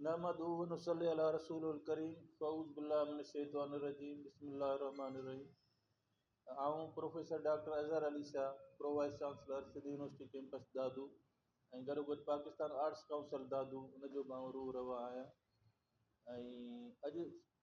نحمده ونصلي علي رسوله الڪريم فاعوذ بالله من الشيطان الرجيم بسم الله الرحمٰن الرحيم آئون professor doctor Azhar Ali Shah pro vice chancellor Sindh university campus Dadu ۽ گڏوگڏ پاڪستان آرٽس ڪائونسل دادو ان جو به آئون روح روا آهيان ۽ اڄ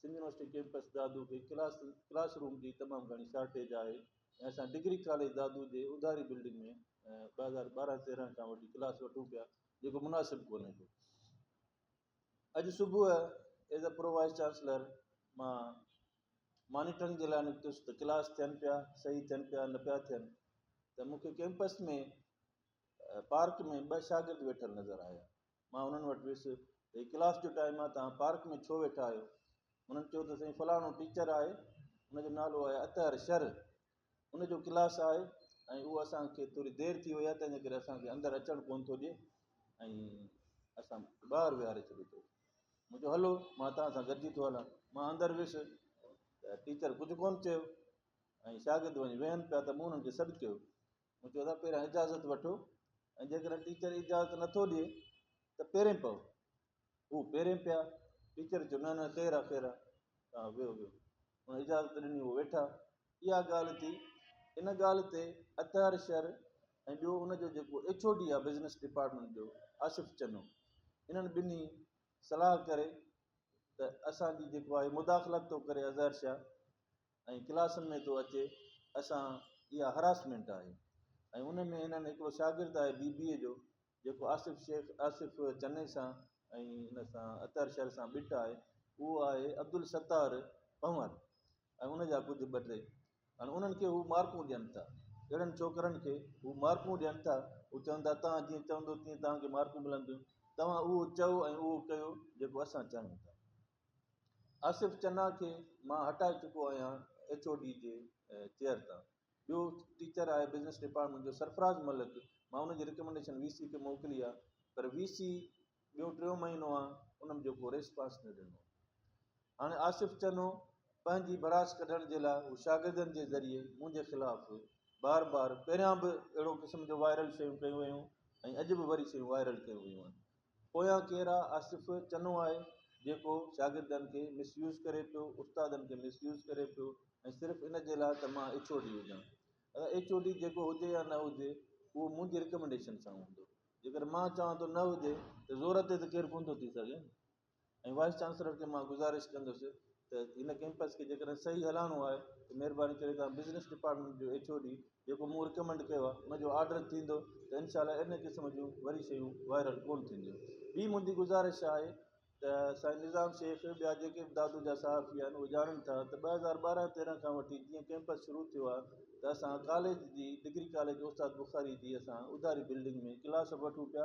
سنڌ يونيورسٽي ڪيمپس دادو کي ڪلاس ڪلاس روم جي تمام گهڻي شارٽيج آهي ۽ اسان ڊگري ڪاليج دادو جي اڌاري بلڊنگ ۾ ٻه هزار ٻارهن تيرهن کان وٺي ڪلاس وٺون پيا جيڪو مناسب ڪونهي ڪو اڄ صبح as a pro vice chancellor مان مانيٽرنگ جي لاء نڪتس ته ڪلاس ٿين پيا صحيح ٿين پيا نه پيا ٿين ته مونکي ڪيمپس ۾ پارڪ ۾ ٻه شاگرد ويٺل نظر آيا مان انهن وٽ ويس ته هي ڪلاس جو ٽائيم آهي توهان پارڪ ۾ ڇو ويٺا آهيو؟ انهن چيو ته سائين فلاڻو ٽيچر آهي ان جو نالو آهي اطهر شر ان جو ڪلاس آهي ۽ اهو اسان کي ٿوري دير ٿي وئي آهي تنهنجي ڪري اسان کي اندر اچڻ ڪونه ٿو ڏي ۽ اسان ٻاهر ويهاري ڇڏي ٿو مون چيو هلو مان توهان سان گڏجي ٿو هلان مان اندر ويس ته ٽيچر ڪجهه ڪونه چيو ۽ شاگرد وڃي ويهن پيا ته مون انهن کي سڏ ڪيو مون چيو ته پهريان اجازت وٺو ۽ جيڪڏهن ٽيچر اجازت نٿو ڏئي ته پيرين پئو هو پيرين پيا ٽيچر چيو نه نه خير آ خير آ تان ويهو ويهو هن اجازت ڏني هو ويٺا اها ڳالهه ٿي ان ڳالهه تي اطهر شر ۽ ٻيو ان جو جيڪو ايڇ او ڊي آ بزنس ڊپارٽمنٽ جو آصف چنو انهن ٻنهي صلاح ڪري ته اسانجي جيڪو آهي مداخلت ٿو ڪري اظهر شاهه ۽ ڪلاسن ۾ ٿو اچي اسان اها هراسمينٽ آهي ۽ ان ۾ هنن هڪڙو شاگرد آهي بي بي اي جو جيڪو آصف شيخ آصف چني سان ۽ ان سان اطهر شر سان ٻٽ آهي اهو آهي عبدالستار پنور ۽ ان جا ڪجهه ٻه ٽي هاڻي انهن کي هو مارڪون ڏين ٿا اهڙن ڇوڪرن کي هو مارڪون ڏين ٿا هو چون ٿا تان جيئن چوندو تيئن تان کي مارڪون ملنديون تان اهو چئو ۽ اهو ڪيو جيڪو اسان چاهيون ٿا آصف چنا کي مان هٽائي چڪو آهيان ايڇ او ڊي جي چيئر تان. ٻيو ٽيچر آهي بزنس ڊپارٽمينٽ جو سرفراز ملڪ مان ان جي رڪمينڊيشن وي سي کي موڪلي آهي پر وي سي ٻيو ٽيون مهينو آهي ان جو ڪو ريسپانس نه ڏنو. هاڻي آصف چنو پنهنجي ڀڙاس ڪڍڻ جي لاء هو شاگردن جي ذريعي منهنجي خلاف بار بار پهريان به اهڙو قسم جو وائرل شيون ڪيون ويون ۽ اڄ به وري شيون وائرل ڪيون ويون آهن پويان ڪيرا آصف چنو آهي جيڪو شاگردن کي مس يوز ڪري پيو استادن کي مس يوز ڪري پيو ۽ صرف ان جي لاء ته مان ايڇ او ڊي هجان اگر ايڇ او ڊي جيڪو هجي يا نه هجي اهو منهنجي رڪمنڊيشن سان هوندو جيڪر مان چوان ٿو نه هجي ته زور تي ته ڪير ڪونه ٿو ٿي سگهي ۽ وائيس چانسلر کي مان گذارش ڪندس ته هن ڪيمپس کي جيڪڏهن صحيح هلائڻو آهي ته مهرباني ڪري توهان بزنس ڊپارٽمينٽ جو ايڇ او ڊي جيڪو مون رڪمينڊ ڪيو آهي ان جو آرڊر ٿيندو ته انشاء الله اهڙي قسم جون وري شيون وائرل ڪونه ٿينديون ٻي منهنجي گذارش آهي ته سائين نظام شيخ ٻيا جيڪي به دادو جا صحافي آهن اهي ڄاڻن ٿا ته ٻه هزار ٻارهن تيرهن کان وٺي جيئن ڪيمپس شروع ٿيو آهي ته اسان ڪاليج جي ڊگري ڪاليج استاد بخاري جي اسان اڌاري بلڊنگ ۾ ڪلاس به وٺون پيا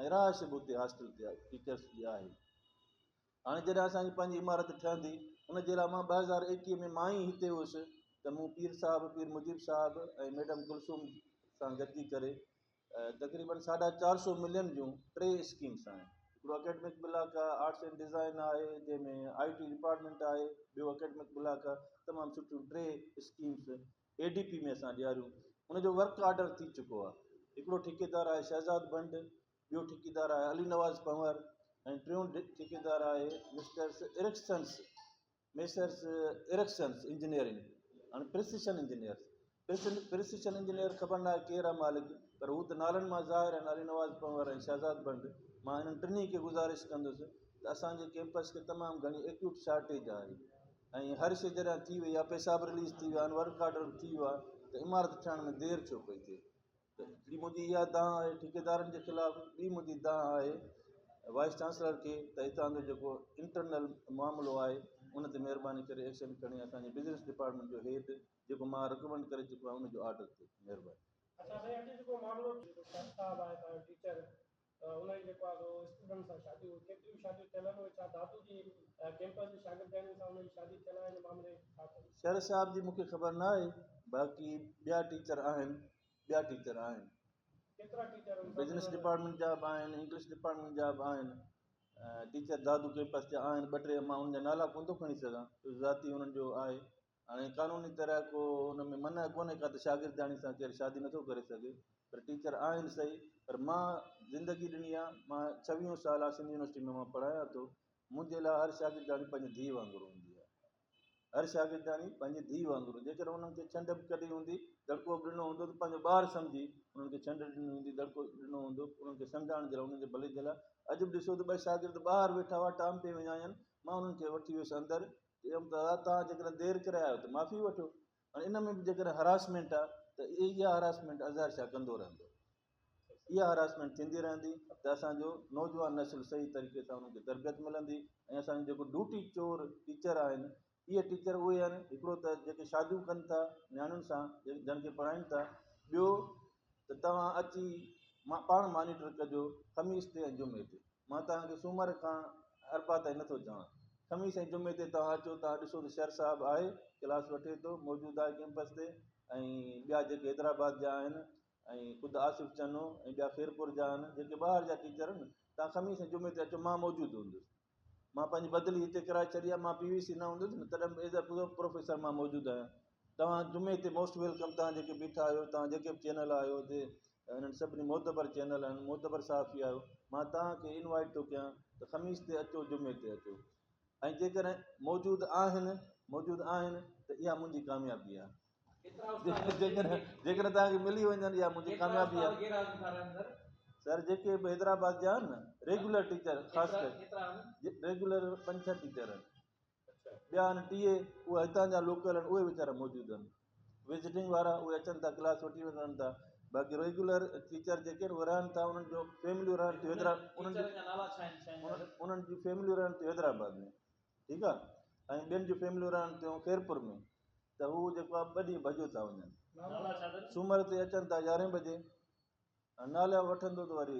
۽ رهائش به اتي هاسٽل تي آهي ٽيچرس جي آهي هاڻي جڏهن اسانجي پنهنجي عمارت ٺهندي ان جي لاء مان ٻه هزار ايڪيهه ۾ مان ئي هتي هيس ته مون پير صاحب پير مجيب صاحب ۽ ميڊم ڪلثوم سان گڏجي ڪري تقريبا ساڍا چار سو ملين جون ٽي اسڪيمس آهن هڪڙو اڪيڊمڪ بلاڪ آهي آرٽس اينڊ ڊيزائن آهي جنهن ۾ آئي ٽي ڊپارٽمنٽ آهي ٻيو اڪيڊمڪ بلاڪ آهي تمام سٺيون ٽي اسڪيمس اي ڊي پي ۾ اسان ڏياريون ان جو ورڪ آرڊر ٿي چڪو آهي هڪڙو ٺيڪيدار آهي شهزاد بنڊ ٻيو ٺيڪيدار آهي علي نواز پنور ۽ ٽيون ٺيڪيدار آهي مسٽرس ارڪسنس ميسرس ارڪسنس انجنيئرنگ هاڻي پرسيشن انجنيئر پرسيشن انجنيئر خبر نه آهي ڪير آهي مالڪ پر هو ته نالن مان ظاهر آهن علي نواز پنور ۽ شهزاد بنڊ مان هنن ٽنهي کي گذارش ڪندس ته اسانجي ڪيمپس کي تمام گهڻي ايڪيوٽ شارٽيج آهي ۽ هر شيء جڏهن ٿي وئي آ پيساب رليز ٿي ويا آهن ورڪ آرڊر به ٿي ويو آ ته عمارت ٺهڻ ۾ دير ڇو پئي ٿئي ته هڪڙي منهنجي اها دانهن آهي ٺيڪيدارن جي خلاف ٻي منهنجي دانهن آهي وائيس چانسلر کي ته هتان جو جيڪو انٽرنل معاملو آهي ان تي مهرباني ڪري ايڪشن کڻي اسان جي بزنس ڊپارٽمينٽ جو هيڊ جيڪو مان رڪمينڊ ڪري چڪو آهيان ان جو آرڊر ٿئي مهرباني اچا سائين اڄ جيڪو معاملو ٿيو ٿو سر صاحب آهي تنهنجو ٽيچر ته ان جي جيڪو آهي سو اسٽوڊنٽ سان شاديون هيون ڪيتريون شاديون ٿيل آهن اهي ڇا دادو جي ڪيمپس جي شاگردياڻين سان انهن جي شادي ٿيل آهي ان معاملي ڇا چئبو. شر صاحب جي مون کي خبر نه آهي باقي ٻيا ٽيچر آهن ٻيا ٽيچر آهن. ڪيترا ٽيچر آهن بزنس ڊپارٽمينٽ جا به آهن انگلش ڊپارٽمينٽ جا به آهن ٽيچر دادو ڪيمپس جا آهن ٻه ٽي مان انهن جا نالا ڪونه ٿو کڻي سگهان ذاتي انهن جو آهي هاڻي قانوني طرح ڪو ان ۾ منع ڪونهي ڪا ته شاگردياڻي سان ڪير شادي نٿو ڪري سگهي پر ٽيچر آهن صحيح پر مان زندگي ڏني آ مان ڇويهون سال آ سنڌ يونيورسٽي ۾ مان پڙهايان ٿو منهنجي لاء هر شاگردياڻي پنهنجي ڌيء وانگر هوندي آ هر شاگردياڻي پنهنجي ڌيء وانگر جيڪڏهن انهن کي ڇنڊ به ڪڍي هوندي دڙڪو به ڏنو هوندو ته پنهنجو ٻار سمجهي انهن کي ڇنڊ ڏني هوندي دڙڪو ڏنو هوندو انهن کي سمجهائڻ جي لاء انهن جي ڀلي جي لاء اڄ به ڏسو ته ٻه شاگرد ٻاهر ويٺا هئا ٽام پي وڃايان مان انهن کي وٺي ويس اندر چيم ته دادا توهان جيڪڏهن دير ڪري آيو ته معافي وٺو ۽ ان ۾ به جيڪڏهن هراسمينٽ آهي ته اها هراسمينٽ اظهر شاهه ڪندو رهندو اها هراسمينٽ ٿيندي رهندي ته اسانجو نوجوان نسل صحيح طريقي سان انهن کي تربيت ملندي ۽ اسانجو جيڪو ڊوٽي چور ٽيچر آهن اهي ٽيچر اهي آهن هڪڙو ته جيڪي شاديون ڪن ٿا نياڻين سان جن کي پڙهائين ٿا ٻيو ته توهان اچي پاڻ مانيٽر ڪجو خميس تي ۽ جمعي تي مان توهان کي سومر کان اربع تائين نه ٿو چوان. خميس ۽ جمعي تي توهان اچو تان ڏسو ته شر صاحب آهي، ڪلاس وٺي ٿو، موجود آهي ڪيمپس تي ۽ ٻيا جيڪي حيدرآباد جا آهن ۽ خود آصف چنو ۽ ٻيا خيرپور جا آهن جيڪي ٻاهر جا ٽيچر آهن توهان خميس ۽ جمعي تي اچو مان موجود هوندس. مان پنهنجي بدلي هتي ڪرائي ڇڏي آهي، مان پي وي سي نه هوندس نه تڏهن به ايز اي پروفيسر مان موجود آهيان. توهان جمعي تي موسٽ ويلڪم توهان جيڪي بيٺا آهيو توهان جيڪي به چينل آهيو جي انهن سڀني معتبر چينل آهن معتبر صحافي آهيو مان توهان کي انوائيٽ ٿو ڪيان ته خميس تي اچو جمعي تي اچو ۽ جيڪڏهن موجود آهن موجود آهن ته اها منهنجي ڪاميابي آهي جيڪڏهن جيڪڏهن توهان کي ملي وڃن اها منهنجي ڪاميابي آهي سر جيڪي به حيدرآباد جا آهن نه ريگيولر ٽيچر خاص ڪري ريگيولر پنج ڇهه ٽيچر آهن ٻيا آهن ٽيئي، اهي هتان جا لوڪل آهن، اهي ويچارا موجود آهن. وزٽنگ وارا اهي اچن ٿا ڪلاس وٺي وڃن ٿا، باقي ريگيولر ٽيچر جيڪي آهن اهي رهن ٿا انهن جون فيمليون رهن ٿيون حيدرآ انهن جون ٽيچرن جا نالا ڇا آهن سائين ظاهر؟ انهن جون فيمليون رهن ٿيون حيدرآباد ۾ ٺيڪ آهي ۽ ٻين جون فيمليون رهن ٿيون خيرپور ۾ ته هو جيڪو آهي ٻه ڏينهن ڀڄيو ٿا وڃن نالا ڇا اٿن؟ سومر تي اچن ٿا يارهين بجي ۽ نالا وٺندو ته وري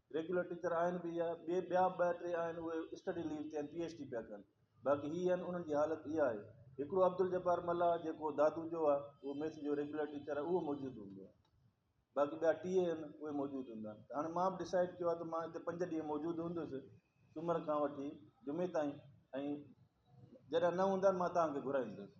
ريگيولر ٽيچر آهن به يا ٻي ٻيا ٻه ٽي آهن اهي اسٽڊي ليو تي آهن پي ايڇ ڊي پيا ڪن باقي هي آهن انهن جي حالت اها آهي هڪڙو عبدالجبار ملاح جيڪو دادو جو آهي اهو ميٿ جو ريگيولر ٽيچر آهي اهو موجود هوندو آهي باقي ٻيا ٽي اهي آهن اهي موجود هوندا آهن ته هاڻي مان به ڊسائڊ ڪيو آهي ته مان هتي پنج ڏينهن موجود هوندس سومر کان وٺي جمعي تائين ۽ جڏهن نه هوندا مان تهان کي گهرائيندس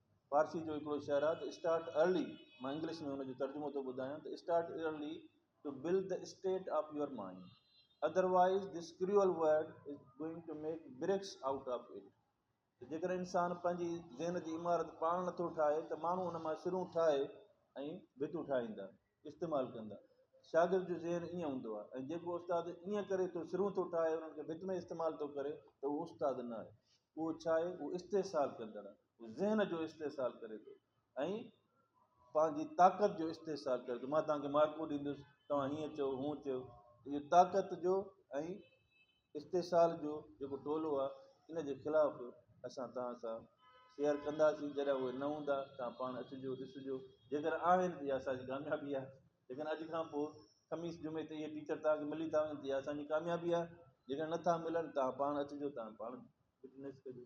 فارسي جو هڪڙو شعر آهي ته اسٽارٽ ارلي مان انگلش ۾ ان جو ترجمو ٿو ٻڌايان ته start early to build the state of your mind otherwise this cruel world is going to make bricks out of it ته جيڪڏهن انسان پنهنجي ذهن جي عمارت پاڻ نٿو ٺاهي ته ماڻهو ان مان سرون ٺاهي ۽ ڀتون ٺاهيندا. استعمال ڪندا. شاگرد جو ذهن ائين هوندو آهي ۽ جيڪو استاد ائين ڪري ٿو سرون ٿو ٺاهي انهن کي ڀت ۾ استعمال ٿو ڪري ته اهو استاد نه آهي اهو ڇا آهي اهو استحصال ڪندڙ آهي اهو ذهن جو استحصال ڪري ٿو ۽ پنهنجي طاقت جو استحصال ڪري ٿو مان توهان کي مارڪون ڏيندس توهان هيئن چئو هون چئو اهو طاقت جو ۽ استحصال جو جيڪو ٽولو آ ان جي خلاف اسان توهان سان شيئر ڪنداسين جڏهن اهي نه هوندا توهان پاڻ اچجو ڏسجو جيڪڏهن آهن ته اها اسان جي ڪاميابي آهي ليڪن اڄ کان پوء خميس جمعي تي اهي ٽيچر توهان کي ملي ٿا وڃن ته اها اسان جي ڪاميابي آهي جيڪڏهن نه ٿا ملن توهان پاڻ اچجو توهان پاڻ وٽنيس ڪجو